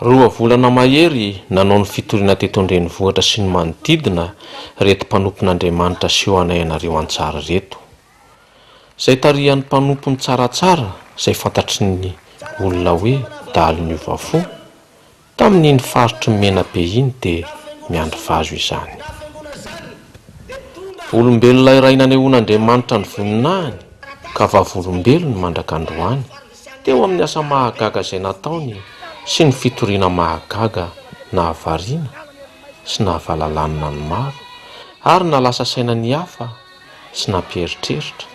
Roa volana mahery nanao ny fitoriana teto an-drenivohitra sy ny manodidina reto mpanompon'Andriamanitra aseho anay anareo an-tsary reto. Izay tarihan'ny mpanompony tsaratsara izay fantatry ny olona hoe dahalo niova fo, tamin'iny faritry ny Menabe iny dia miandry vazo izany. Volombelona iray nanehoan'Andriamanitra ny voninahiny ka vavolombelony mandrak'androany. Teo amin'ny asa mahagaga izay nataony sy ny fitoriana mahagaga nahavariana sy nahavalalanina ny maro ary nalasa saina ny hafa sy nampieritreritra,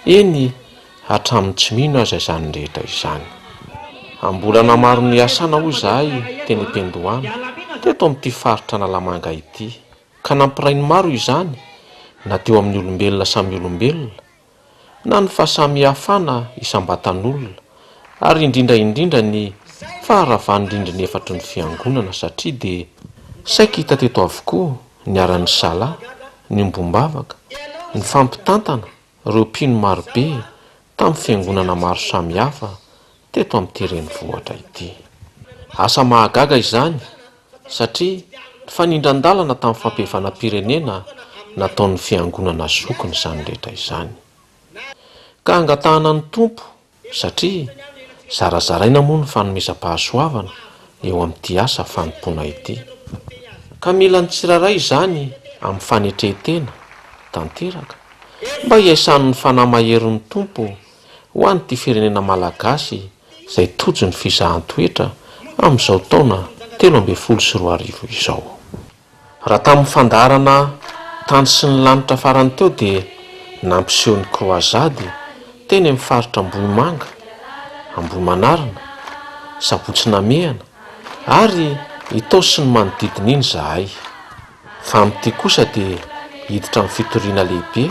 eny hatramin'ny tsy mino aza izany rehetra izany. Am-bolana maro niasana hoy izahay teny Ipendohana, teto amin'ity faritra Analamanga ity, ka nampiray ny maro izany na teo amin'ny olombelona samy olombelona, na ny fahasamihafana isam-batan'olona ary indrindra indrindra ny faharavan'ny rindrina efatry ny fiangonana satria dia saika hita teto avokoa ny ara-misala, ny ombom-bavaka, ny fampitantana ireo mpino marobe tamin'ny fiangonana maro samihafa teto amin'ity renivohitra ity. Asa mahagaga izany! satria ny fanindran-dalana tamin'ny fampihavanam-pirenena nataon'ny fiangonana zokiny izany rehetra izany. Ka angatahana ny Tompo, satria zarazaraina moa ny fanomezam-pahasoavana eo amin'ity asa fanompoana ity. Ka mila ny tsirairay izany amin'ny fanetren-tena tanteraka mba hiaisan'ny fanahy maherin'ny Tompo ho an'ity firenena malagasy izay tojo ny fizahan-toetra amin'izao taona telo ambin'ny folo sy roa arivo izao. Raha tamin'ny fandaharana tany sy ny lanitra farany teo dia nampiseho ny kroazady teny amin'ny faritra Ambohimanga, Ambohimanarina, Sabotsy Namehana ary Itaosy ny manodidina iny izahay fa amin'ity kosa dia hiditra amin'ny fitoriana lehibe.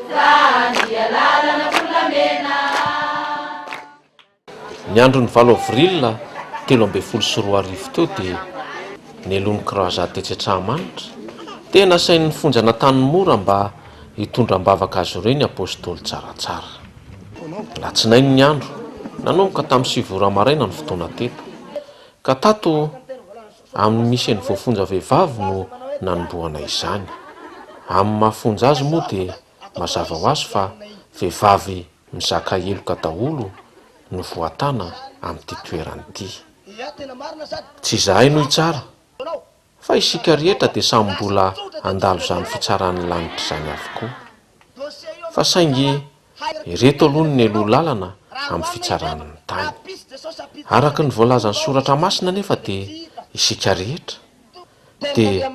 Ny andron'ny valo avril telo ambin'ny folo sy roa arivo teo dia neloan'ny croisade tetsy Antsahamanitra. Tena nasain'ny fonja an'Antanimora mba hitondra am-bavaka azy ireo ny Apôstôly Tsaratsara. Alatsinainy ny andro, nanomboka tamin'ny sivy ora maraina ny fotoana teto, ka tato Amin'ny nisen'ny voafonja vehivavy no nanombohana izany. Amin'ny maha fonja azy moa dia mazava ho azy fa vehivavy mizaka heloka daholo no voatana amin'ity toerana ity. Tsy izahay no hitsara, fa isika rehetra dia samy mbola handalo izany fitsaran'ny lanitra izany avokoa. fa saingy ireto aloha no neloa lalana amin'ny fitsarany ny tany. Araka ny voalazan'ny soratra masina anefa dia isika rehetra dia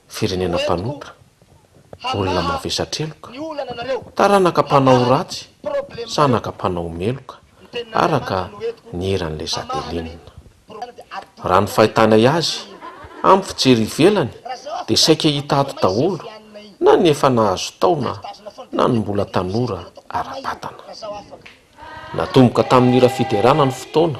firenena mpanotra, olona mavesatreloka, taranaka mpanao ratsy, zanaka mpanao meloka araka ny eran'ilay Satelina. Raha ny fahitanay azy, amin'ny fijery ivelany dia saika hita ato daholo na ny efa nahazo taona na ny mbola tanora ara-batana. Natomboka tamin'ny hira fiderana ny fotoana.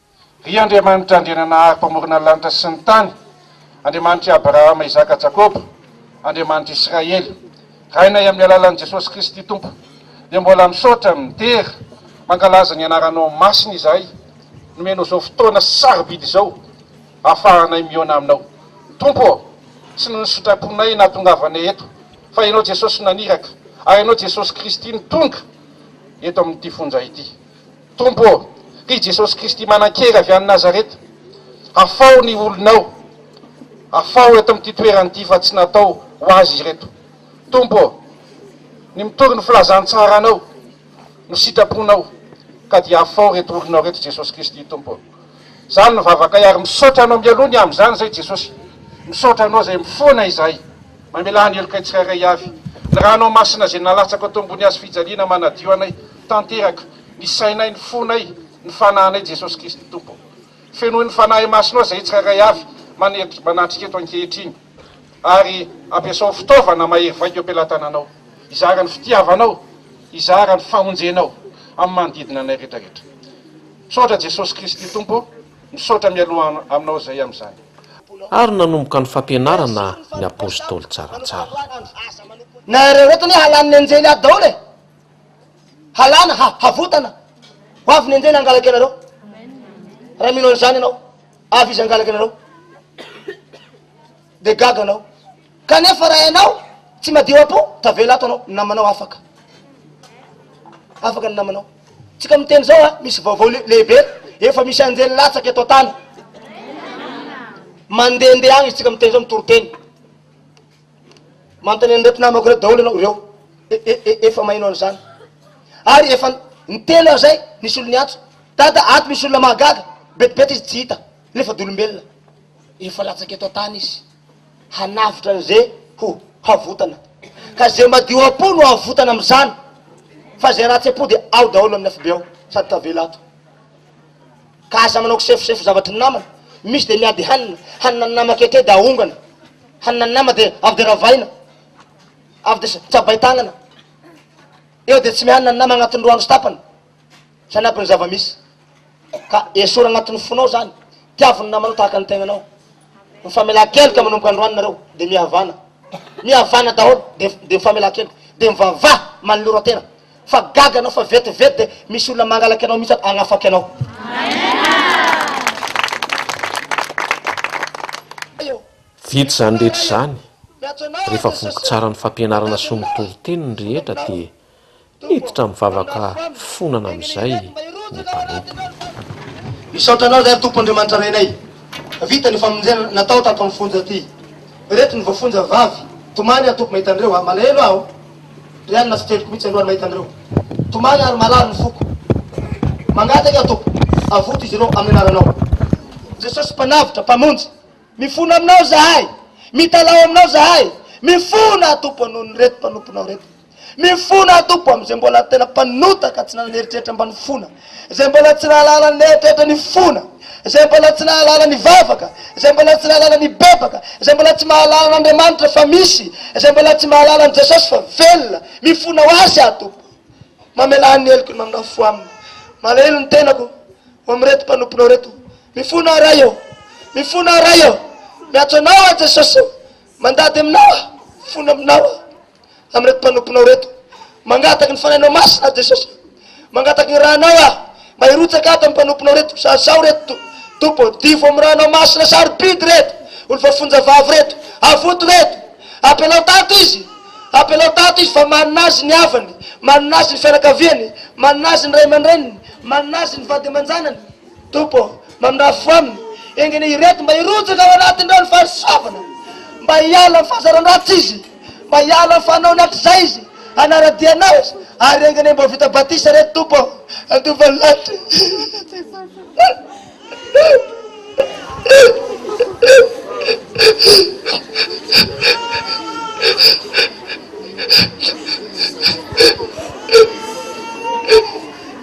Ry Andriamanitra Andriananahary Mpamorona ny lanitra sy ny tany, Andriamanitr'i Abrahama, Isaka, Jakoba, Andriamanitr'i Israely, Rainay amin'ny alalan'i Jesosy Kristy Tompo, dia mbola misaotra, midera, mankalaza ny Anaranao Masina izahay, nomenao izao fotoana sarobidy izao ahafahanay mihaona Aminao. Tompo ô, tsy noho ny sitraponay nahatongavanay eto, fa Ianao Jesosy no naniraka, ary Ianao Jesosy Kristy no tonga eto amin'ity fonja ity. Tompo ô, ry Jesosy Kristy manan-kery avy any Nazareta, afaho ny olonao, afaho eto amin'ity toerana ity fa tsy natao ho azy ireto. Tompo ô, ny mitory ny filazantsaranao no sitraponao ka dia afaho ireto olonao ireto Jesosy Kristy Tompo ô. Izany no vavakay ary misaotra anao mialoha ny amin'izany izay Jesosy. Misaotra anao izay mifoana izahay. Mamelà ny helokay tsirairay avy. Ny ranao masina izay nalatsako teo ambony hazo fijaliana manadio anay tanteraka, ny sainay, ny fonay, ny fanahinay Jesosy Kristy Tompo. Fenoy ny Fanahy Masinao izay tsirairay avy manatrika eto ankehitriny ary ampiasao ho fitaovana mahery vaika eo am-pelatananao hizara ny fitiavanao, hizara ny famonjenao amin'ny manodidina anay rehetra rehetra. Misaotra Jesosy Kristy Tompo misaotra mialoha aminao zay amzany. Ary nanomboka ny fampianarana ny apostoly tsaratsara. Nahareo eto anie halany ny anjely ato daholo e! Halana, ha, havotana. Ho avy ny anjely hangalaka ianareo. Raha mino an'izany ianao, avy izy hangalaka ianareo. Dia gaga anao. Kanefa raha ianao tsy madio am-po, tavela ato anao, ny namanao afaka. Afaka ny namanao. Tsika miteny izao a, misy vaovao lehibe, efa misy anjely latsaka eto an-tany. Mandehandeha agny tsika miteny izao mitoriteny. Manontany an'ireto namako ireto daholo ianao, ireo e, e, e, efa maheno an'izany. Ary efa ny telo an'izay nisy olo niantso, dada ato misy olona mahagaga, betibety izy tsy hita. Nefa d'olombelona, efa latsaka eto an-tany izy, hanavotra an'izay ho havotana. Ka izay madio am-po no havotana amin'izany, fa izay ratsy am-po dia ao daholo amin'ny afobe ao, sady tavela ato. Ka aza manao kisefosefo zavatry ny namana, misy dia miady hanina, hanina ny nama ankehitrey dia ahongana, hanina ny nama dia avy dia ravaina, avy dia tsabain-tagnana, eo dia tsy mihanina ny nama agnatin'ny roa andro sy tapany. hanampy ny zava-misy. Ka esory anatin'ny fonao izany. Tiavo ny namanao tahaka ny tegnanao. Mifamelan-keloka manomboka androany nareo, dia mihavana. Mihavana daholo, dia dia mifamelan-keloka. Dia mivavaha manoloran-tena. Fa gaga anao fa vetivety dia misy olona mangalaka anao mihitsy hanafaky anao. Vita izany rehetra izany, rehefa voky tsara ny fampianarana sy ny toriteny ny rehetra dia. Hiditra amin'ny vavaka fifonana amin'izay ny mpanompo. Misaotra anao ry Tompo Andriamanitra Renay fa vita ny famonjena natao tato amin'ny fonja ity. Ireto ny voafonja vavy. Tomany aho Tompo mahita an'ireo a. Malahelo aho ry anona tsy teloko mihitsy alohan'ny mahita an'ireo. Tomany aho ry malalo ny foko. Mangataka aho Tompo avoto izy ireo amin'ny anaranao. Jesosy Mpanavotra, Mpamonjy, mifona aminao izahay, mitalaho aminao izahay, mifona aho Tompo noho ny reto mpanomponao reto. Mifona aho Tompo amin'izay mbola tena mpanota ka tsy nanana eritreritra mba nifona, izay mbola tsy nahalala ny eritreritra nifona, izay mbola tsy nahalala nivavaka, izay mbola tsy nahalala nibebaka, izay mbola tsy mahalala an'Andriamanitra fa misy, izay mbola tsy mahalala an'i Jesosy fa velona, mifona ho Azy aho Tompo. Mamelà ny heloko ny maminao fo aminy. Malahelo ny tenako ho amin'ireto mpanomponao ireto. Mifona aho Ray ô, mifona aho Ray ô, miantso Anao aho Jesosy ô. Mandady aminao aho, fona aminao aho, amin'ireto mpanomponao ireto. Mangataky ny Fanahinao Masina aho, Jesosy. Mangataky ny Ranao aho, mba hirotsaka ato amin'ny mpanomponao ireto, mpizaha zao ireto, Tompo ô. Divo amin'ny Ranao Masina sarobidy ireto olo voafonja vavy ireto. Avoto ireto. Apelao tato izy. Apelao tato izy, fa manana azy ny havany, manana azy ny fianakaviany, manana azy ny ray aman-dreniny, manana azy ny vady aman-janany. Tompo ô, mamindrafo aminy engine ireto mba hirotsaka ao anatin'ireo ny fahasoavana, mba hiala amin'ny fahazaran-dratsy izy, mba hiala amin'ny fanaony hatrizay izy, hanara-dia Anao izy, ary engine mba ho vita batisa ireto Tompo ô, handova ny lanitra.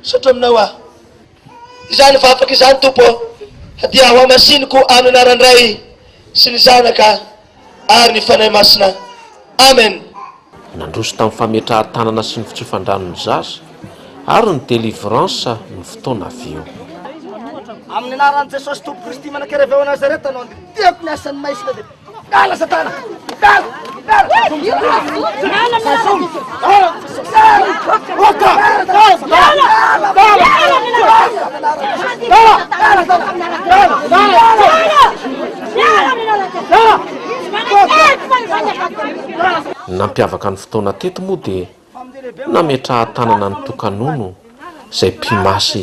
Misaotra aminao aho. Izany vavaka izany Tompo ô, dia hohamasiniko amin'ny anaran'ny Ray sy ny Zanaka ary ny Fanahy Masina. Amen. Nandroso tamin'ny fametrahan-tanana sy ny fitsofan-dranon'ny zaza ary ny delivrance ny fotoana avy eo. Amin'ny anaran'i Jesosy Tompo Kristy Manakereveo ao Nazareta no andidihako ny asan'ny Maistre de. Dala satana! Dala! Nampiavaka ny fotoana teto moa dia nametraha-tanana ny toka-nono izay mpimasy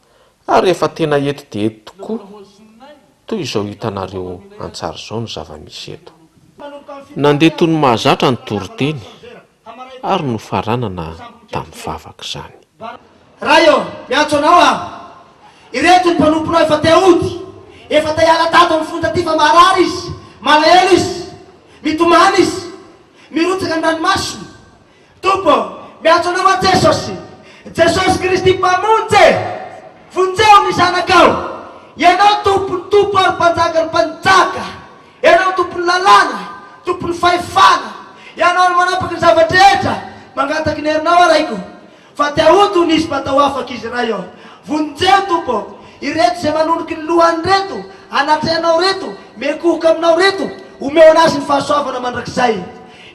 Ary efa tena eto dia eto tokoa toy izao hitanareo an-tsary izao ny zava-misy eto. Nandeha toy ny mahazatra ny toriteny ary nofaranana tamin'ny vavaka izany. Ray ô, miantso anao aho. Ireto ny mpanomponao efa te hody. Efa te hiala tato amin'ny fony taty fa maharary izy. Malahelo izy. Mitomany izy. Mirotsaka ny ranomasony. Tompo ô, miantso Anao aho Jesosy, Jesosy Kristy Mpamonjy e! Vonjeo ny zanakao! Ianao Tompon'ny tompo ary Mpanjakan'ny mpanjaka! Ianao Tompon'ny lalàna, Tompon'ny fahefana! Ianao no manapaka ny zava-drehetra! Mangataky ny herinao aho Raiko! Fa te ahoto ny hisy mba atao afaka izy iray ô! Vonjeo Tompo ô! Ireto izay manoniky ny lohany reto, anatrehanao reto, miekohoka aminao reto, omeo anazy ny fahasoavana mandrakizay.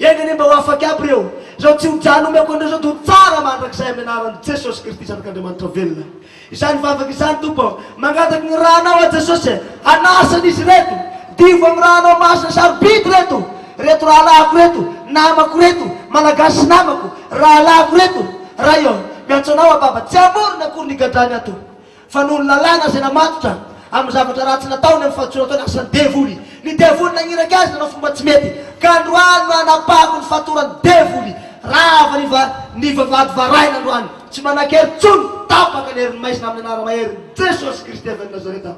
Enga anie mba ho afaka aby ireo, izao tsy ho jano omeko an'ireo izao dia ho tsara mandrakizay amin'ny anaran'i Jesosy Kristy Zanak'Andriamanitra velona. Izany vavaka izany Tompo ô, mangataka ny ra anao aho Jesosy e, hanasa an izy ireto, diovy amin'ny ra anao masina sarobidy ireto, ireto rahalahiko ireto, namako ireto, Malagasy namako, rahalahiko ireto, Ray ô, miantso anao aho Baba, tsy hamorona akory ny gadrany ato, fa noho ny lalàna izay namatotra, amin'ny zavatra ratsy nataony amin'ny fahadisoana ataony asan'ny devoly, ny devoly nagniraky azy nanao fomba tsy mety, ka androany no hanapahako ny fatoran'ny devoly, rava ny va, ny vavahady varahina androany. Tsy manan-kery intsony, tapaka ny herin'ny maizina amin'ny anara-maherin'i Jesosy Kristy avy any Nazareta.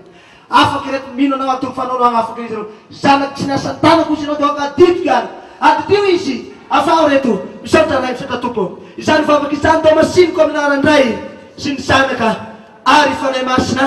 Afaka ireto mino Anao antony fanao no hanafaka izy ireo. Zanako tsy niasan-tanako hozy Ianao dia aoka adidiko ihany. Adidio izy. Afaho ireto. Misaotra Ray, misaotra Tompo. Izany vavaka izany Tao Masiniko amin'ny anaran-dRay sy ny Zanaka ary Fanahy Masina.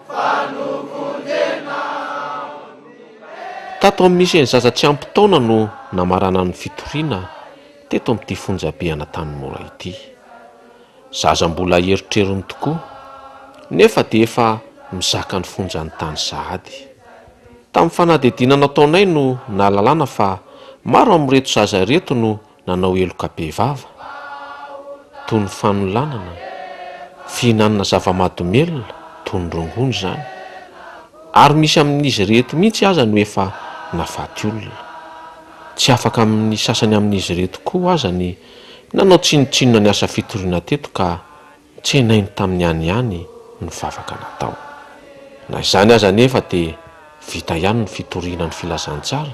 Tato amin'ny Misehan'ny Zaza Tsy Ampy Taona no namarana ny fitoriana teto amin'ity fonjabe Anatanimora ity. Zaza mbola erotrerony tokoa, nefa dia efa mizaka ny fonjan'ny tany sahady. Tamin'ny fanadihadiana nataonay no nahalalana fa maro amin'ireto zaza ireto no Nanao heloka bevava, toy ny fanolanana, fihinanana zava-mahadomelina, toy ny rongony izany. Ary misy amin'izy ireto mihitsy aza no efa nahafaty olona. Tsy afaka amin'ny sasany amin'izy ireto koa aza ny nanao tsinontsinona ny asa fitoriana teto ka tsenainy tamin'ny any ihany ny vavaka natao. Na izany aza anefa dia vita ihany ny fitoriana ny filazantsara.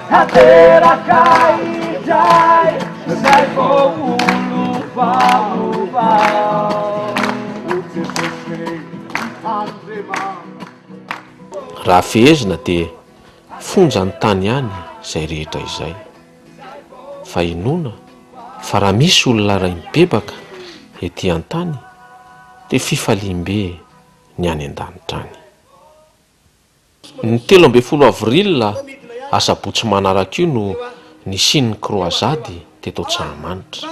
Tanteraka indray izay voaolovaova O Jesosy Andriamanitra. Raha fehezina dia fonja ny tany ihany izay rehetra izay. Fa inoana fa raha misy olona iray mibebaka ety an-tany dia fifaliam-be ny any an-danitra any. Ny telo ambin'ny folo avril, asabotsy manaraka io no nisian'ny kroazady teto Antsahamanitra.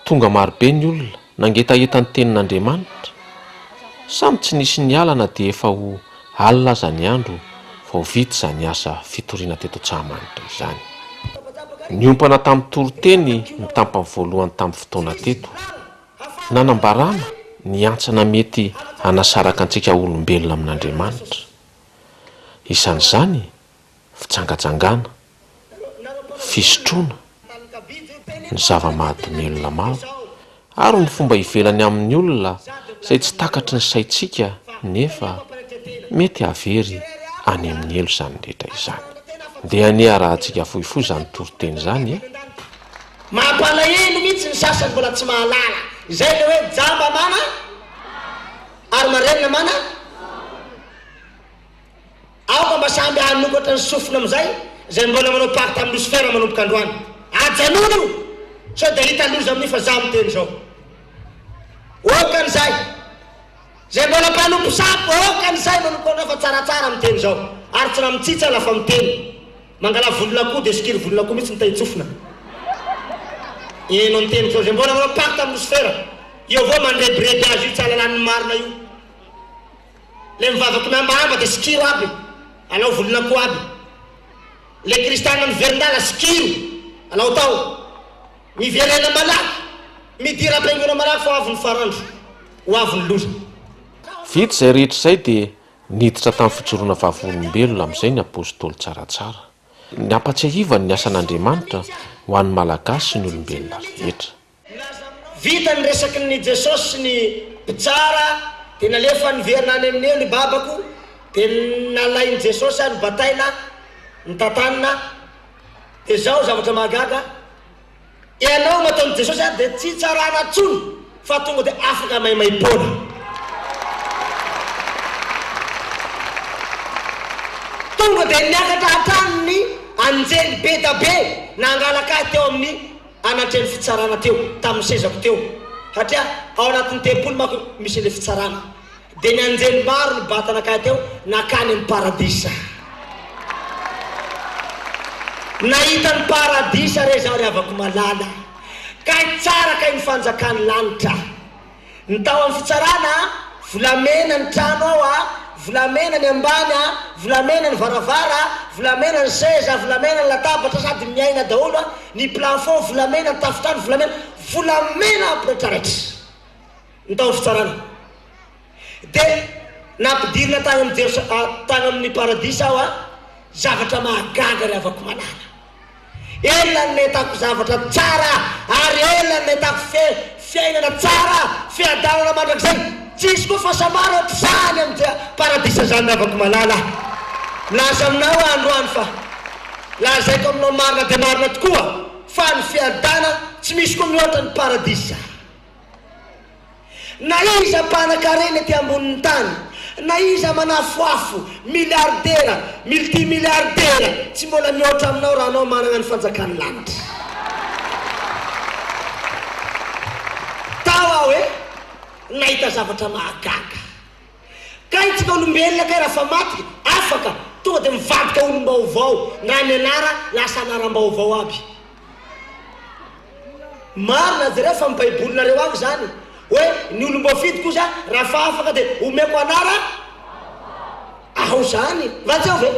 Tonga marobe ny olona, nangetaheta ny tenin'Andriamanitra. Samy tsy nisy niala na dia efa ho alina aza ny andro vao vita izany asa fitoriana teto Antsahamanitra izany. Niompana tamin'ny toriteny ny tampany voalohany tamin'ny fotoana teto. Nanambarana ny hantsana mety hanasaraka antsika olombelona amin'Andriamanitra. Isan'izany, fijangajangana, fisotroana, ny zava-mahadomelina maro, ary ny fomba ivelany amin'ny olona izay tsy takatry ny saintsika nefa mety hahavery any amin'ny helo izany rehetra izany. Ndeha hanea arahantsika fohifohy izany toriteny izany e! Mampalahelo mihitsy ny sasany mbola tsy mahalala izay le hoe jamba mana lava ary marenina mana zava. Aoka mba samby hanokatra ny sofina amin'izay izay mbola manao pacte amin'i Lucifer manomboka androany. Ajanony io sao dia hita loza amin'io fa za miteny izao. Okan'izay. Izay mbola mpanompo sampy okan'izay manompo androany fa tsaratsara miteny izao ary tsy na mitsitsy aza fa miteny. Mangala volon'akoho dia sikiry volon'akoho mihitsy ny tahin-tsofina e no niteny projet mbola manao pacte amin'ny losifera eo avao mandrebireby azy io tsy halalan'ny marina io le mivavaky mihambahamba dia sikiro aby alao volon'akoho aby le kristiana miverin-dala sikiro alao tao miverena malaky midira am-piangona malaky fa ho avy ny farandro ho avy ny loza Vita izay rehetra izay dia Niditra tamin'ny fijoroana vavolombelona amin'izay ny Apostoly Tsaratsara. Nampatsiahivany ny asan'Andriamanitra ho an'ny Malagasy sy ny olombelona rehetra. Vita ny resaky ny Jesosy sy ny mpitsara dia nalefany niverina any amin'ny elo i babako dia nalain'i Jesosy aho nobataina, nitantanina, dia izao zavatra mahagaga, Ianao no ataon'i Jesosy ato dia tsy tsarana tsony fa tonga dia afaka maimaimpoana. Tonga dia niakatra hatrany ny anjely be da be nangalaka ahy teo amin'ny anatrehan'ny fitsarana teo, tamin'ny sezako teo. Satria ao anatin'ny tempoly manko misy ilay fitsarana. Dia nianjely maro ny bata nankany teo, nankany amin'ny Paradisa. Nahita ny Paradisa re izaho, ry havako malala. Kay tsara kay ny fanjakan'ny lanitra. Ny tao amin'ny fitsarana, volamena ny trano ao, volamena ny ambany, volamena ny varavara, volamena ny seza, volamena ny latabatra sady miaina daholo, ny plafond volamena, ny tafontrano volamena, volamena ampiratraratra. ny taom-pitsarana. Dia nampidirina tany amin'ny Jerosa-, tany amin'ny Paradisa aho an! Zavatra mahagaga ry havako malala! Ela no nahitako zavatra tsara ary ela no nahitako fe, fiainana tsara, fiadanana mandrakizay! Tsy hisy koa fahasambarana ohatr'izany amin'ny Je-, Paradisa izany ry havako malala! Milaza aminao aho androany fa, lazaiko aminao marina dia marina tokoa fa ny fiadana tsy misy koa mihoatra ny Paradisa! Na iza mpanakarena ety ambonin'ny tany, na iza manafoafo, miliardera, multimiliardera, tsy mbola mihoatra aminao raha anao manana ny fanjakan'ny lanitra. Tao aho e, nahita zavatra mahagaga. Kay tsika olombelona kay rafa maty afaka tonga de mivadika olombaovao ndra ny anara lasa anarambaovao aby marina jereo fa am baibolinareo avy zany oe ny olomboafidy kosa rafa afaka de omeko anara ao zany va tsy ao ve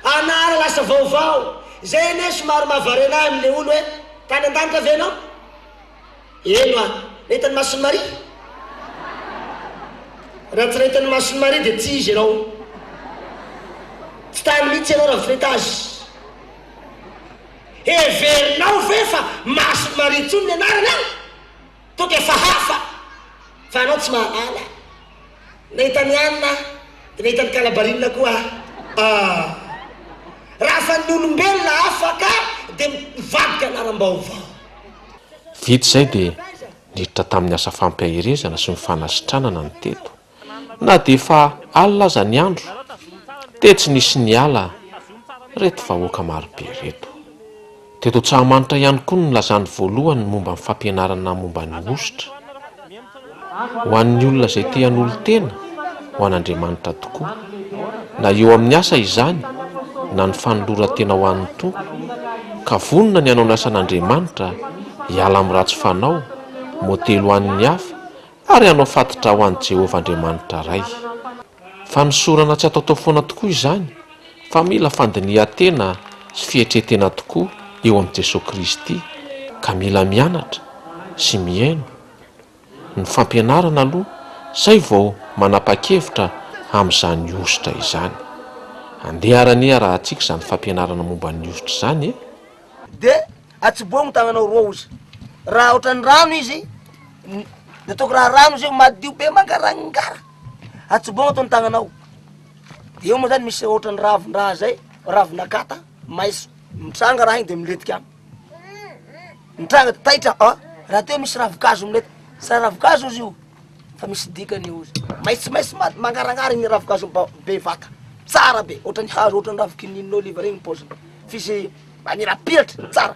anara lasa vaovao zay anie somary mahavarena ahy amle olo oe tany andanitra ve enao Eno a! Nahita ny mason'i Maria? Raha tsy nahita ny mason'i Maria dia tsy izy ianao. Tsy tany mihitsy ianao raha mifoeta azy. Heverinao ve fa mason'i Maria intsony ny anarany an? Tonga efa hafa fa ianao tsy mahalala. Nahita ny alina aho, dia nahita ny kalabarinina koa aho ah. Raha fa ny olombelona afaka dia mivarotra laram-baovao. Vita izay dia niditra tamin'ny asa fampiaherezana sy ny fanasitranana ny teto. Na dia efa alina aza ny andro dia tsy nisy niala ireto vahoaka marobe ireto. Teto Antsahamanitra ihany koa no nilazany voalohany momba ny fampianarana momba ny hosotra. Ho an'ny olona izay te hanolo-tena ho an'Andriamanitra tokoa, na eo amin'ny asa izany na ny fanoloran-tena ho an'ny Tompo, ka vonona ny hanao ny asan'Andriamanitra, hiala amin'ny ratsy fanao, modely ho an'ny hafa, ary hanao fati-dra ho an'i Jehovah Andriamanitra Ray. Fanosorana tsy ataotao foana tokoa izany fa mila fandinihan-tena sy fietre-tena tokoa eo amin'i Jesoa Kristy ka mila mianatra sy mihaino Ny fampianarana aloha zay vao manapa-kevitra amin'izany hosotra izany. Andeha arany iarahantsika izany fampianarana momba ny hosotra izany e! De atsiboho ny tagnanao roa ozy raha otrany rano izy de ataoko raha rano izy madio be mangarangara. Atsibogno eto ny tagnanao. Eo moa zany misy ohatran'ny ravin-draha zay, ravin'akata, maiso. Mitranga raha igny de miletika agny. Mitranga de taitra, ah, raha teo misy ravin-kazo milety. Sa ravin-kazo izy io? Fa misy dikany io izy. Maitsomaitso ma- mangarangara igny ravin-kazo ba- be vata. Tsara be, ohatran'ny hazo, ohatran'ny ravin-kinin'oliva regny ny paoziny. F'izy manirapiratra, tsara.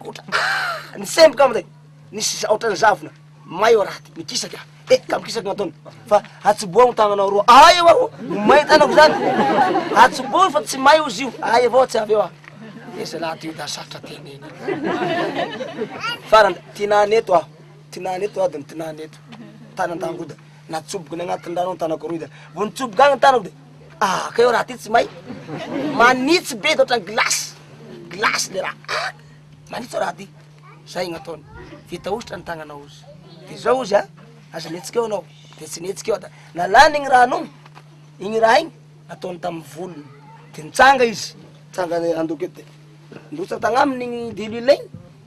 Gotra ah! Nisemboka amin'izay, nisy za- ohatran'ny zavona may ao raty, nikisaky aho, eh ka mikisaky no ataony, fa hatsiboha ny tagnanao roa, ay eo aho, ho may ny tagnako zany, hatsiboha io fa tsy may ozy io, ay avao tsy avy eo aho, eh zalahy ty io da sarotra tenena, farany tinany eto aho, tinany eto adiny, tinany eto, tany an-dangoda, natsoboko ny agnatin'ny rano ny tagnako roy zany, vao nitsoboka agny ny tagnako de. Ah ka eo raha ty tsy may manitsy be de ohatran'ny glace glace le raha ah manitsy raha ty zay no ataony vita hosotra ny tagnanao ozy de zao ozy a aza mihetsika eo anao de tsy nihetsika eo da nalany igny rano igny igny raha igny nataony tamin'ny volony de nitsanga izy nitsanga handoky eo de nirotsaka tagnaminy igny diluile igny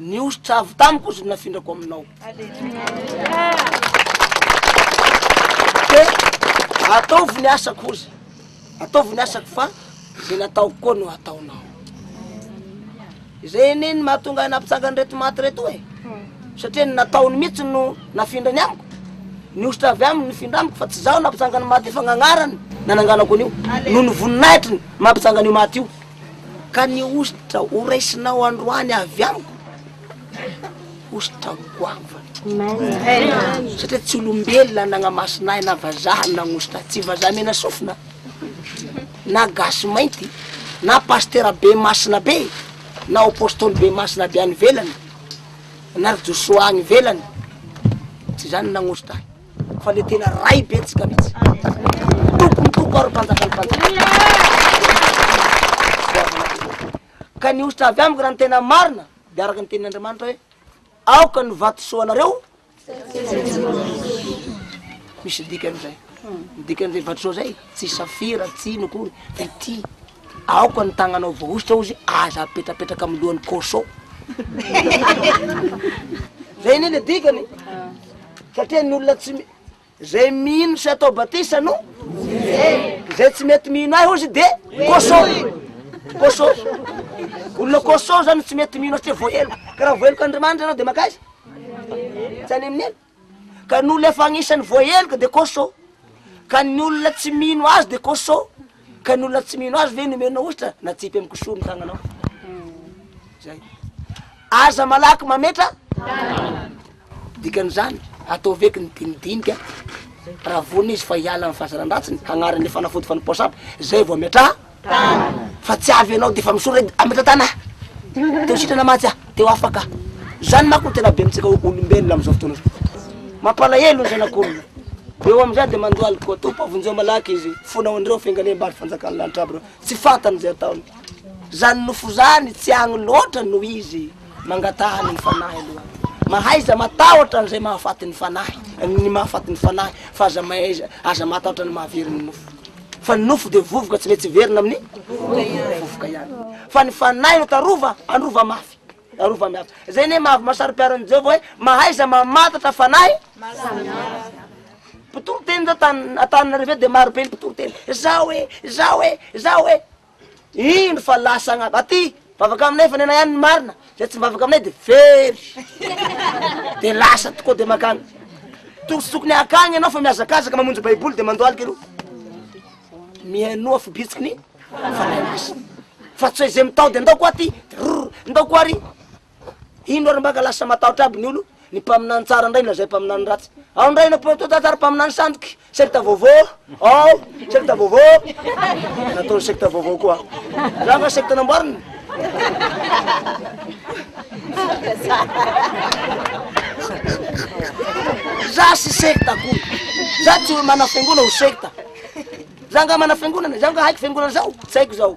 Ny hosotra avy tamiko hozy no nafindrako aminao. Dia ataovy ny asako hozy, ataovy ny asako fa izay nataoko koa no ataonao. Izay anie ny mahatonga ahy nampitsanga an'ireto maty ireto e. Satria ny nataony mihitsy no nafindrany amiko. Ny hosotra avy aminy nifindra amiko fa tsy izaho nampitsanga ny maty io fa ny agnarany nananganako an'io. Noho ny voninahitriny mampitsanga an'io maty io. Ka ny hosotra ho raisinao androany avy amiko, hosotra goava. Satria tsy olombelona nagnamasinà ahy na vazaha no nagnosotra ahy, tsy vazaha mena sofina, na gasy mainty, na pasitera be masina be, na apostoly be masina avy any ivelany, na ry Josoa any ivelany, tsy izany no nagnosotra ahy. fa le tena ray be tsika mitsy tompony toko ary mpanjakany mpanjaka ka ny ositra avy amiko raha ny tena marina de araka ny tenin'andriamanitra hoe aoka ny vatosoa anareo misy dika an'izay midika an'izay vatosoa zay tsy safira tsy ino akory de ty Aoka ny tagnanao voahosotra ozy aza apetrapetraka amin'ny lohan'i Koso. Zay anie le dikany satria ny olona tsy mi- zay mino sy atao batisa no zay tsy mety mino ahy ozy de Koso. Koso. Olona Koso zany tsy mety mino ahy satria voaheloka. Ka raha voaheloka Andriamanitra ianao de makaiza? Tsy any amin'i. ka ny olona efa anisany voaheloka de cosso, ka ny olona tsy mino azy de cosso, ka ny olona tsy mino azy ve nomenao ositra natsipy amy kosoa ny tagnanao zay, aza malaky mametra dikan'izany ataovy eky ny dinidinika raha vonona izy fa hiala amy fahazaran-dratsiny hagnarina ny fanafody fanipoa sampy zay vao ametraha. tanana. Fa tsy avy ianao dia efa misolo edy ametra-tana a! Teo sitrana mantsy a! Teo afaka a! Izany manko no tena be amintsika olombelona amin'izao fotoana izao. Mampalahelo ny zanak'olona. Eo amin'izay dia mandohalika koa. Tompo a! Vonjeo malaky izy. Fonao an'ireo fiangaliam bary fanjakan'ny lanitra aby ireo. Tsy fantany izay ataony. Izany nofo izany tsy agny loatra no izy. Mangataha ny fanahy aloha. Mahaiza matahotra an'izay mahafaty ny fanahy, ny mahafaty ny fanahy, fa aza mahaiza, aza matahotra ny mahavery ny nofo. Fa ny nofo dia vovoka tsy mety hiverina amin'ny vovoka ihany. Fa ny fanahy no tarova, androva mafy, arova miafy. Izay anie mahavy masari-piaro an'i Jehovah hoe mahaiza mamantatra fanahy samihafa. Mpitoriteny zao tany Antananarivo eto dia marobe ny mpitoriteny. Izao e, izao e, izao e. Indro fa lasa agn'ady. Aty mivavaka aminay fa nenay any ny marina, zay tsy mivavaka aminay de very. De lasa tokoa de makany. To tsy tokony akagny anao fa mihazakazaka mamonjy baiboly de mandohalika ero. Mihainoa fo bitsiky ny fanahy masina. Fa tsy hoe zay mitao de ndao ko aty, rrr ndao ko ary. Ino ary mbaka lasa matahotra aby ny olo ny mpaminany tsara ndray lazay mpaminany ratsy ao ndray na tsara mpaminany sandoky secte vaovao ao secte vaovao nataony secte vaovao koa za nga secte namboariny za sy secte akory za tsy manafengona ho secte za nga manafiangonana za nga haiko fiangonana zao tsy haiko zao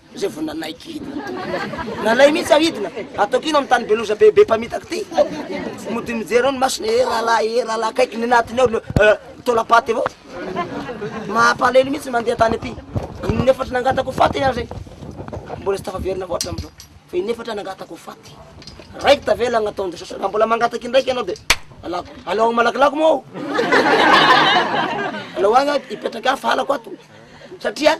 Zay vao nanaiky hidina tompoko. Nalay mihitsy aho hidina. Ataoko ino amin'ny tany be loza be be mpamitaka ty? Mody mijery eo ny masony, eh rahalahy, eh rahalahy, akaiky ny anatiny ao, eh, taolam-paty avao. Mampalahelo mihitsy ny mandeha tany aty. In'efatra nangatako faty ny ahy zay. Mbola tsy tafaverina avao hatramin'izao. Fa in'efatra nangatako faty. Raiky tavela agnataon'i Jesosy. Raha mbola mangataka indraiky ianao dia alako. Alao agny malakilaky moa ao. Alao agny aho, hipetraka aho fa halako ato. Satria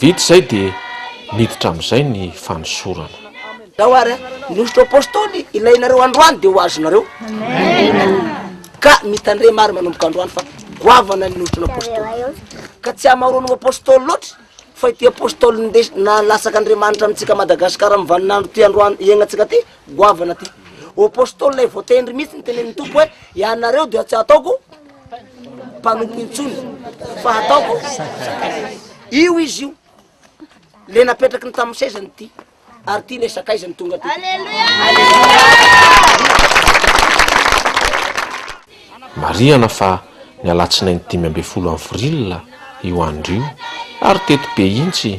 Vita izay dia miditra amin'izay ny fanosorana. Zao ary a, ny hosotra apostoly ilainareo androany dia ho azonareo. Ka mitandrema ary manomboka androany fa goavana ny hosotra apostoly. Ka tsy hamaroany ho apostoly loatra fa ity apostoly nindesy, na latsaka Andriamanitra amintsika Madagasikara amin'ny vaninandro ty androany iainantsika ty goavana ty. Ô Apostoly lay voatendry mihitsy ny tenenin'ny Tompo hoe ianareo dia tsy hataoko mpanompo intsony fa hataoko io izy io le napetraky ny tamin'ny sezany ty ary ty le sakaizany tonga ty. Marihana fa ny alatsinainy dimy ambin'ny folo avril io andro io ary teto be intsy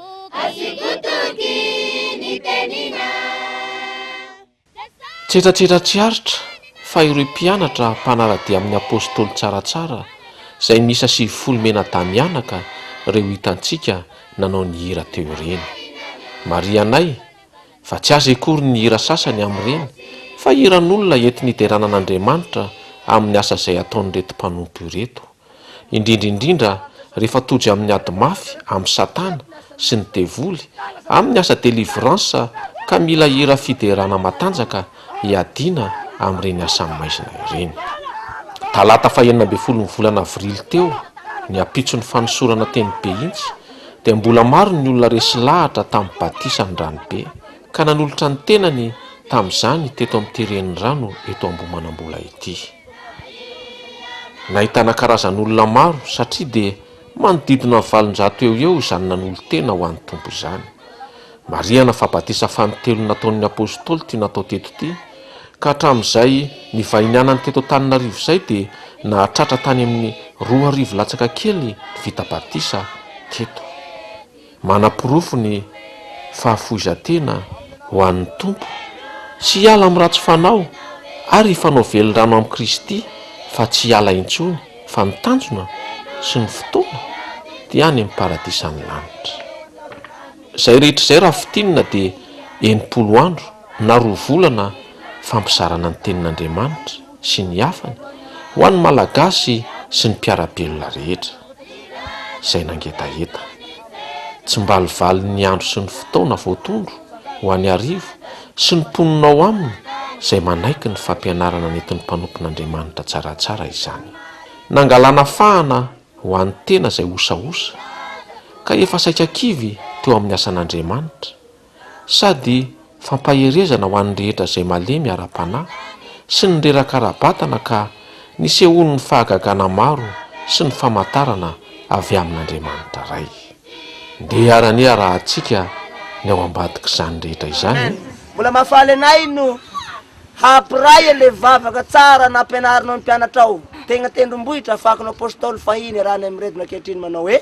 Tsetratsetra tsy aritra fa ireo mpianatra mpanara-dia amin'ny Apostoly Tsaratsara izay miisa sivifolo mianadahy-mianaka ireo hitantsika nanao ny hira teo ireny. Marihanay fa tsy azy akory ny hira sasany amin'ireny fa hiran'olona enti-niderana an'Andriamanitra amin'ny asa izay ataon'ireto mpanompo ireto. indrindra indrindra rehefa tojo amin'ny ady mafy amin'i Satana sy ny devoly amin'ny asa delivrance ka mila hira fiderana matanjaka hiadiana amin'ireny asan'ny maizina ireny. Talata faha enina ambin'ny folon'ny volana avrily teo, ny ampitson'ny fanosorana teny Behintsy dia mbola maro ny olona resy lahatra tamin'ny batisan'ny ranobe ka nanolotra ny tenany tamin'izany teto amin'ity renirano eto Ambohimanambola ity. Nahitana karazan'olona maro satria dia manodidina ny valonjato eo eo izany nanolo-tena ho an'ny Tompo izany. Marihana fa batisa fanintelony nataon'ny Apôstôly ity natao teto ity, ka hatramin'izay nivahinianany teto Antananarivo izay dia nahatratra tany amin'ny roa arivo latsaka kely ny vita batisa teto. Manaporofo ny fahafoizan-tena ho an'ny Tompo sy hiala amin'ny ratsy fanao ary hifanao velon-drano amin'i Kristy fa tsy hiala intsony fa ny tanjona sy ny fotoana dia any amin'ny paradisan'ny lanitra. Izay rehetra izay raha fintinina dia enimpolo andro na roa volana fampizarana ny tenin'Andriamanitra sy ny hafany ho an'ny Malagasy sy ny mpiara-belona rehetra, izay nangetaheta. Tsimbalivalin'ny andro sy ny fotoana voatondro ho an'i Arivo sy ny mponina ao aminy izay manaiky ny fampianarana nentin'ny mpanompon'Andriamanitra tsaratsara izany. Nangalana fahana ho an'ny tena izay osaosa ka efa saika kivy teo amin'ny asan'Andriamanitra, sady fampaherezana ho an'ny rehetra izay malemy ara-panahy sy ny reraka ara-batana ka nisehoan'ny fahagagana maro sy ny famantarana avy amin'Andriamanitra Ray. Ndeha hiara-niha rahantsika ny ao ambadik'izany rehetra izany e! Mbola mahafaly anay no hampiray an'ilay vavaka tsara nampianarinao ny mpianatrao, tegna tendrombohitra afakinao Apostoly fahiny iarahany amin'ireto ankehitriny manao hoe.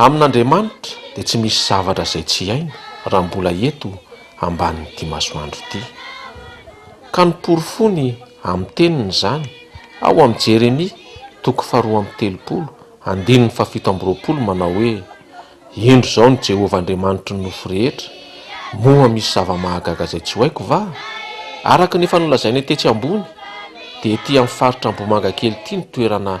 Amin'Andriamanitra dia tsy misy zavatra izay tsy hainy raha mbola eto ambanin'ity masoandro ity. Ka noporofony amin'ny teniny izany ao amin'ny Jeremia toko faharoa amby telopolo andininy fahafito amby roapolo manao hoe, Indro izao ny Jehovah Andriamanitry ny nofo rehetra, moa misy zava-mahagaga izay tsy ho haiko va? Araka ny efa nolazainay tetsy ambony dia ety amin'ny faritra Ambohimangakely ity ny toerana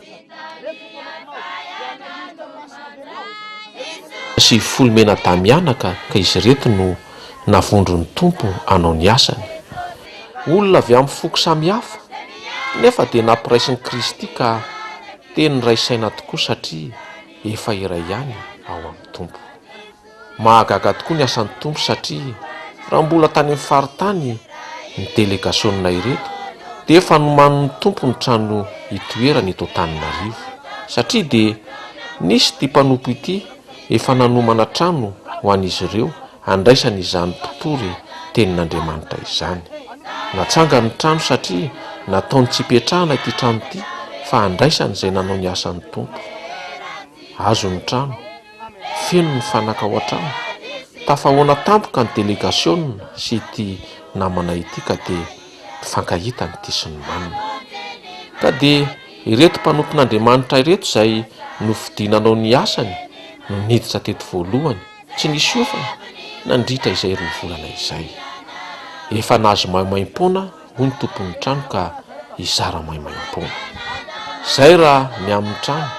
sivifolo mena-damiana ka izy ireto no navondron'ny Tompo hanao ny asany. Olona avy amin'ny foko samihafa nefa dia nampiraisin'i Kristy ka teny niray saina tokoa satria efa iray ihany ao amin'ny Tompo. Mahagaga tokoa ny asan'ny Tompo satria raha mbola tany amin'ny faritany ny delegasionina ireto dia efa nomanin'ny Tompo ny trano itoerany eto Antananarivo satria dia nisy ity mpanompo ity efa nanomana trano ho an'izy ireo handraisany izany mpitory tenin'Andriamanitra izany. Natsangany ny trano satria nataony tsy hipetrahana ity trano ity fa handraisany izay nanao ny asan'ny Tompo. Azony ny trano. Feno ny fanaka ao an-trano. Tafahaona tampoka ny delegasiona sy ity namana ity ka dia mifankahita ny ty sy ny manina. Ka dia ireto mpanompon'Andriamanitra ireto izay nofidina hanao ny asany no niditra teto voalohany, tsy nisy ofona, nandritra izay roa volana izay. Efa nahazo maimaim-poana hoy ny tompon'ny trano ka hizara maimaimpoana. Izay raha ny amin'ny trano.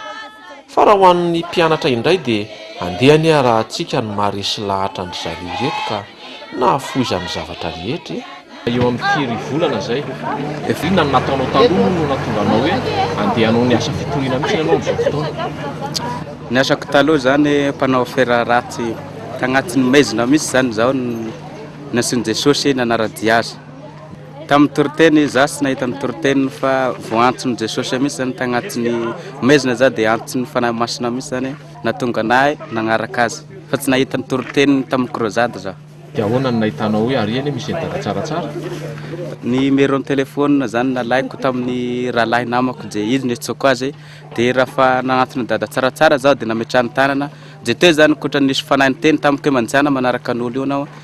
Fa raha ho an'ny mpianatra indray dia andeha anie arahantsika ny maharesy lahatra an-dry zareo ireto ka nahafoizan'ny zavatra rehetra e! Eo amin'ny firy volana izay? Efa inona ny nataonao taloha moa no nahatonga anao hoe andeha hanao ny asa fitoriana mihitsy ianao amin'izao fotoana? Ny asako taloha izany mpanao afera ratsy, tagnatin'ny maizina mihitsy izany izaho no nasian'i Jesosy nanara-dia azy. Tamin'ny toriteny, izaho tsy nahita ny toriteny fa voaantson'i Jesosy mihitsy izany tagnatin'ny maizina izaho dia antson'ny Fanahy Masina mihitsy izany nahatonga anahy nagnaraka azy fa tsy nahita ny toriteny tamin'ny krozady izaho. Dia ahoana no nahitanao hoe ary anie misy edaka tsaratsara? Numéro ny téléphone izany nalaiko tamin'ny rahalahy namako dia izy no niantsoako azy dia raha fa nagnantona Dada tsaratsara izaho dia nametrahany tanana dia teo izany ankoatra ny nisy Fanahy niteny tamiko hoe manjana manaraka an'olo io anao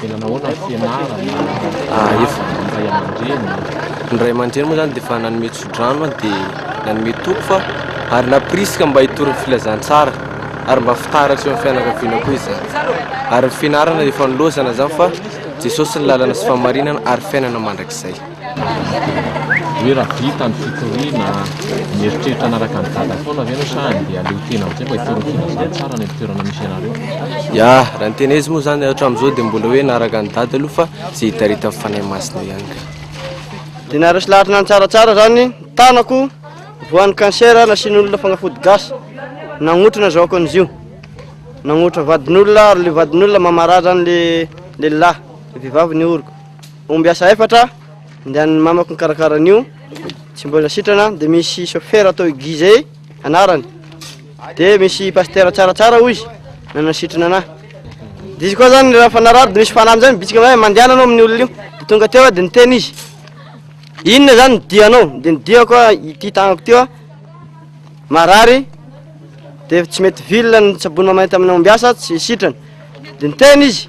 Dia nanao ahoana ny fianarana, niarahaba ny ray aman-dreny? Ny ray aman-dreny moa zany dia efa nanome tsodrano aho dia nanome toky fa ary nampirisika mba hitory ny filazantsara ary mba fitaratra eo amin'ny fianakaviana koa izany. Ary ny fianarana dia efa nilaozana izany fa Jesosy ny lalana sy fahamarinana ary fiainana mandrakizay. Hoe raha vita ny fitoriana, mieritreritra hanaraka an'i Dada foana ve ianao sa handeha haleo tena amin'izay mba hitory ny filazana tsara any amin'ny toerana misy anareo? Ya, raha ny tena izy moa izany hatramin'izao dia mbola hoe hanaraka an'i Dada aloha fa izay hitaritan'ny Fanahy Masina ihany ka. Dia naharesy lahatra na ny tsaratsara izany ny tanako, voan'ny cancer nasian'olona fanafody gasy, nagnotra na zahoako an'izio, nagnotra vadin'olona ary ilay vadin'olona mamarary izany ilay lehilahy, ilay vehivavy ny oriko. Omby asa efatra, andehanan'ny mamako nikarakara an'io, tsy mbola sitrana, dia misy chauffeur atao i Guy zay anarany. Dia misy pasteur tsaratsara hoy izy, nanasitrana anah. Dia izy koa zany raha fanarary dia misy fanahy amizay mibitsika hoe mandehana anao amin'ny olona io. Dia tonga teo aho dia niteny izy, inona zany ny dianao? Dia ny diako ah, ity tagnako ity ah, marary, dia tsy mety vilona ny sabony mamanay tamin'ny omby asa, tsy sitrana. Dia niteny izy,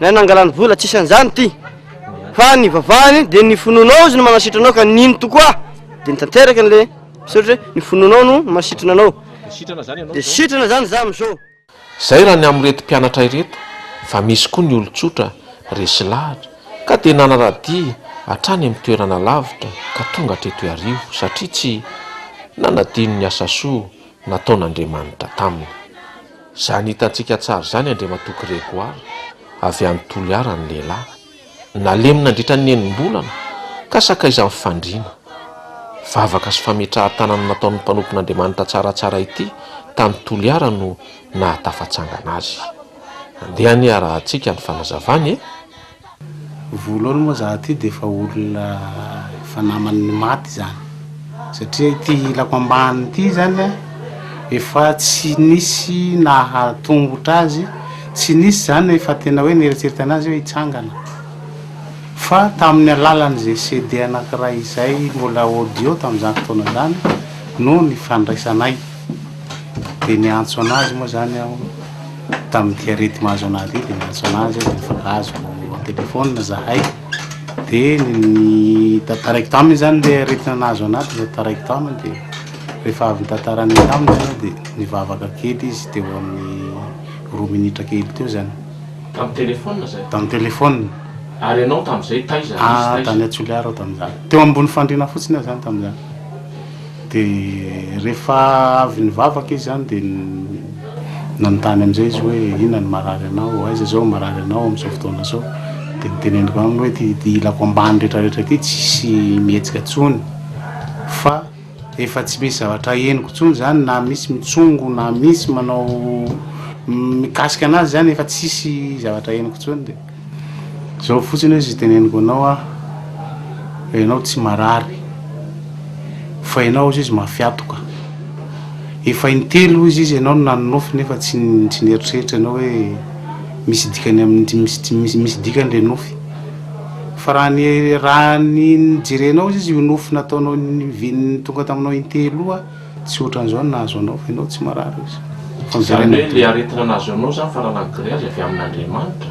Ilay nangalany vola tsisy an'izany ity fa ny vavahany dia ny finoanao izy no manasitra anao ka nino tokoa dia nitanteraka an'ilay misaotra hoe ny finoanao no manasitrana anao dia sitrana izany za amin'izao. Izay raha ny amin'ireto mpianatra ireto fa misy koa ny olon-tsotra resy lahatra ka dia nanara-dia hatrany amin'ny toerana lavitra ka tonga hatreto iarivo satria tsy nanadino ny asa soa nataon'Andriamanitra taminy. Izany hitantsika tsara izany Andriamatoa Grégoire, avy any Toliara ny lehilahy. Nalemy nandritra ny enim-bolana ka sakaizan'ny fandriana. Vavaka sy fametrahan-tanana nataon'ny mpanompon'Andriamanitra tsaratsara ity tany Toliara no nahatafatsangana azy. Andeha anie arahantsika ny fanazavany e! Voalohany moa za ty de efa olona efa naman'ny maty zany satria ity ilako ambany ty zany a efa tsy nisy naha tongotra azy tsy nisy zany efa tena hoe nieritreritana azy hoe hitsangana fa tamin'ny alalan'izay CD anankiray izay mbola audio tamin'izany fotoana zany no nifandraisanay. Dia niantso an'azy moa izany aho, tamin'ity arety mahazo an'ahy ity, dia niantso an'azy aho, dia nifakazoko telephone izahay, dia ny tantaraiko taminy izany ilay aretina nahazo an'ahy, dia tantaraiko taminy, dia rehefa avy nitantarany taminy izany aho, dia nivavaka kely izy teo amin'ny roa minitra kely teo izany. Tamin'ny telephone izay? Tamin'ny telephone. Ary ianao tamin'izay taiza? Ah, tany Toliara aho tamin'izany. Teo ambony fandriana fotsiny aho izany tamin'izany. Dia rehefa avy nivavaka izy an dia nanontany amin'izay izy hoe inona no marary anao, aiza izao no marary anao amin'izao fotoana izao, dia noteneniko aminy hoe ity ilako ambany retraretra ity tsisy mihetsika intsony fa efa tsy misy zavatra henoko intsony izany na misy mitsongo na misy manao mikasika an'azy izany efa tsisy zavatra henoko intsony dia. Zao fotsiny oe ziteneniko anao ah fa enao tsy marary fa enao ozy izy mafiatoka efa intelo ozy izy enao no nanonofy nefa tsy tsy nieritreritra enao oe misy dikany am misy misy dikany le nofy fa raha ny raha ny jerenao ozy izy io nofy nataonao ny viny tonga taminao intelo io ah. Tsy ohatran'izao ny nahazo anao fa ianao tsy marary ozy. Izany hoe ilay aretina nahazo anao izany faranan'ny grillage avy amin'Andriamanitra?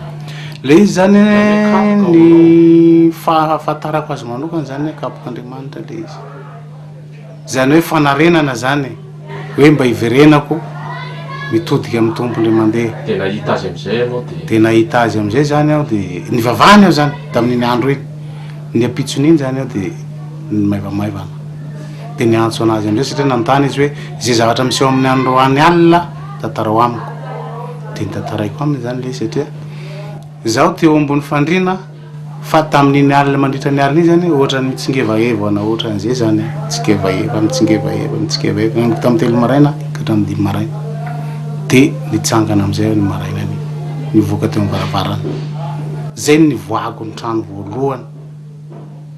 Ilay izy izany an, ny fahafantarako azy manokana izany hoe kapok'Andriamanitra ilay izy. Izany hoe fanarenana izany e. Hoe mba hiverenako mitodika amin'ny Tompo indray mandeha. Dia nahita azy amin'izay ianao dia. Dia nahita azy amin'izay izany aho dia nivavahana aho izany tamin'iny andro iny. Ny ampitson'iny izany aho dia nimaivamaivana. dia niantso an'azy indray satria nanontany izy hoe izay zavatra miseho amin'ny androany alina tantarao amiko dia nitantaraiko aminy izany ilay izy satria izaho teo ambony fandriana fa tamin'iny alina mandritra ny alina iny izany ohatra ny mitsingevaevana ohatra an'izay izany mitsingevaeva mitsingevaeva mitsingevaeva amiko tamin'ny telo maraina ka hatramin'ny dimy maraina dia nitsangana amin'izay aho ny maraina ny nivoaka teo amin'ny varavarana izay ny nivoahako ny trano voalohany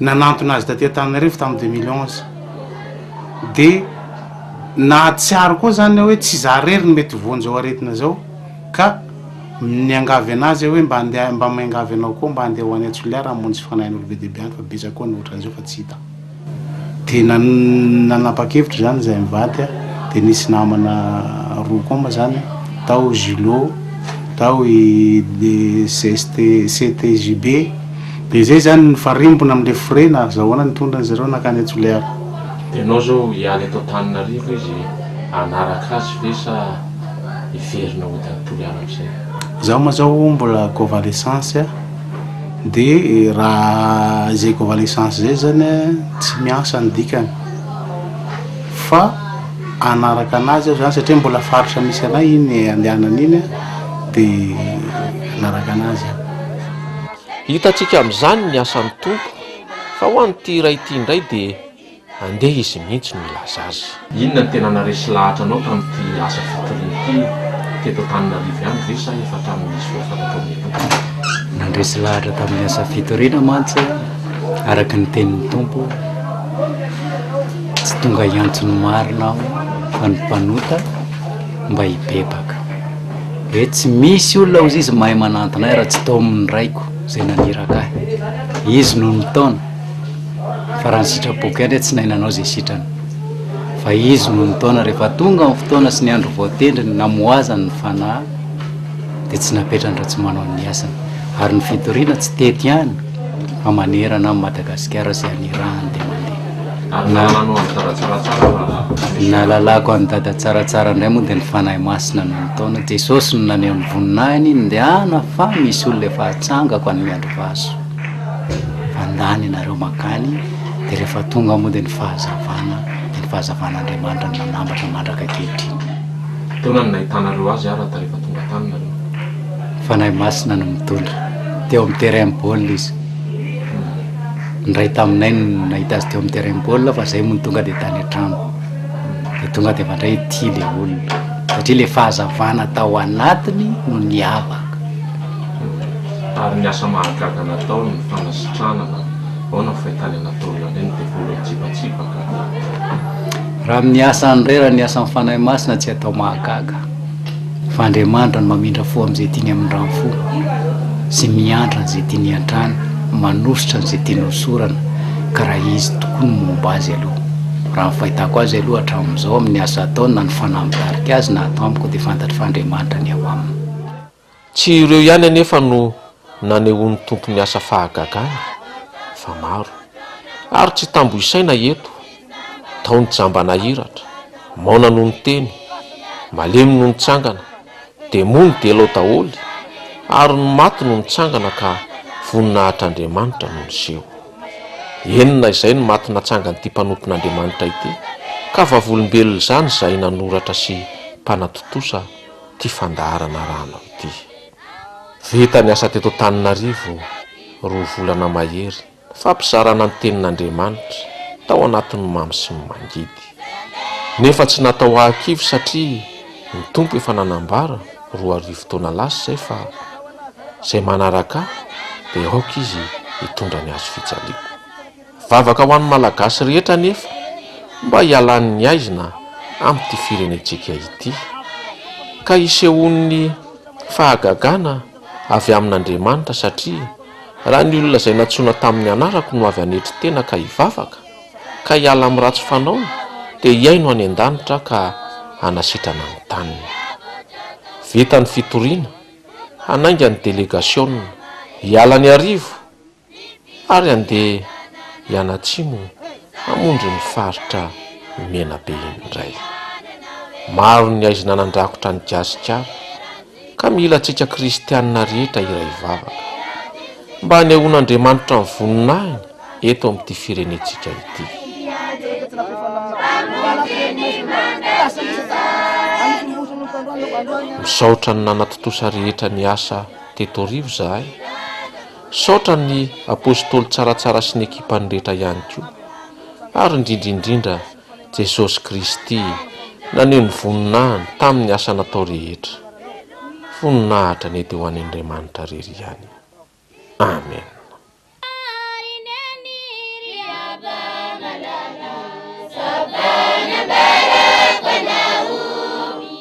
nanantona azy taty Antananarivo tamin'ny deux mille onze dia nahatsiaro koa izany aho hoe tsy izaho irery no mety voan'izao aretina izao ka niangavy an'azy aho hoe mba andeha mba miangavy anao koa mba andeha ho any Antsolihara hamonjy fanahin'olo be dia be any fa betsaka koa ny ohatran'izao fa tsy hita dia nan nanapa-kevitra izany izahay mivady a dia nisy namana roa koa moa izany tao Julot tao i CST CTJB Dia izay izany nifarimbona amin'ilay forena ary izao ahoana nitondra an-dry zareo nankany Antsoleara. Dia ianao izao hiala eto Antananarivo izy hanaraka azy ve sa hiverina hody any Toliara amin'izay? Izaho moa izao mbola convalescence dia raha izay convalescence izay izany tsy miasa ny dikany fa hanaraka an'azy aho izany satria mbola faritra misy anay iny andehanany iny dia hanaraka an'azy aho. Hitantsika amin'izany ny asan'ny Tompo, fa ho an'ity iray ity indray dia andeha Izy mihitsy no hilaza azy. Inona no tena naharesy lahatra anao tamin'ity asa fitoriana ity? Teto Antananarivo ihany ve sa efa hatramin'ny nisy voafantatrao mialoha? Nandresy lahatra tamin'ny asa fitoriana mantsy aho, araka ny tenin'ny Tompo. Tsy tonga hiantso ny marina aho, fa ny mpanota mba hibebaka. e tsy misy olona ozy izy mahay manantona ahy raha tsy tao amin'ny raiko izay naniraka ahy izy no nitaona fa raha ny sitrapoko ihany hoe tsy nahay nanao izay sitrany fa izy no nitaona rehefa tonga ny fotoana sy ny andro voatendriny namohazany ny fanahy dia tsy napetrany raha tsy manao ny asany ary ny fitoriana tsy tety ihany fa manerana amin'i Madagasikara izay anirahany dia mandeha Ary nahalàlanao an'i Dada tsaratsara raha misy Ny nahalalako an'i Dada tsaratsara indray moa dia ny Fanahy Masina no nitaona. Jesosy no naneho ny voninahiny, Indehana fa misy olona efa hatsangako any Miandrivazo. Fandany ianareo mankany, dia rehefa tonga moa dia ny fahazavana, dia ny fahazavan'Andriamanitra no nanambatra mandraka ankehitriny. Taona no nahitanareo azy ara ta rehefa tonga tany nareo? Ny Fanahy Masina no mitondra. Teo amin'ny terrain baolina izy. Indray taminay no nahita azy teo amin'ny terrain baolina fa izay moa no tonga dia tany an-trano. Dia tonga dia mandray ity ilay olona satria ilay fahazavana tao anatiny no niavaka. Ary ny asa mahagaga nataony, ny fanasitranana, ahoana ny fahitany an'i Nataoly an'ireny? Ny devoly mitsipatsipaka. Raha amin'ny asany indray, raha ny asan'ny Fanahy Masina tsy atao mahagaga. fa Andriamanitra no mamindra fo amin'izay tiany hamindra ny fo, sy miantra an'izay tiany hiantrana, manosotra an'izay tiany hosorana, ka raha Izy tokoa no momba azy aloha. Raha ny fahitako azy aloha hatramin'izao amin'ny asa ataony na ny fanahy mitarika azy na ato amiko dia fantatro fa Andriamanitra ny ao aminy. Tsy ireo ihany anefa no nanehoan'ny Tompo ny asa fahagagany fa maro. Ary tsy tambo isaina eto, tao ny jamba nahiratra, maona no niteny, malemy no nitsangana, demoa no delao daholo, ary ny maty no nitsangana ka voninahitr'Andriamanitra no niseho. Enina izay ny maty natsangan'ity mpanompon'Andriamanitra ity, ka vavolombelona izany izay nanoratra sy mpanatontosa ity fandaharana rano ity. Vita ny asa teto Antananarivo roa volana mahery ny fampizarana ny tenin'Andriamanitra tao anatin'ny mamy sy ny mangidy. Nefa tsy natao hahakivy satria ny Tompo efa nanambara roa arivo taona lasa izay fa izay manaraka Ahy dia aoka izy hitondra ny hazofijaliako. Vavaka ho an'ny Malagasy rehetra anefa mba hialan'ny haizina amin'ity firenentsika ity, ka hisehoan'ny fahagagana avy amin'Andriamanitra satria raha ny olona izay nantsoina tamin'ny anarako no avy hanetry tena ka hivavaka, ka hiala amin'ny ratsy fanaony dia hihaino any an-danitra ka hanasitrana ny taniny. Vita ny fitoriana, hanainga ny delegasiona, hiala ny arivo ary andeha hianatsimo hamonjy ny faritra Menabe indray. Maro ny aizina nandrakotra an'i Gasikara ka mila antsika kristianina rehetra iray vavaka mba hanehoan'Andriamanitra ny voninahiny eto amin'ity firenentsika ity. Misaotra ny nanatontosa rehetra ny asa teto Rivo zahay. Misaotra an'i Apostoly Tsaratsara sy ny ekipany rehetra ihany koa, ary indrindra indrindra Jesosy Kristy naneho ny voninahiny tamin'ny asa natao rehetra. Voninahitra anie dia ho an' Andriamanitra irery ihany. Amen.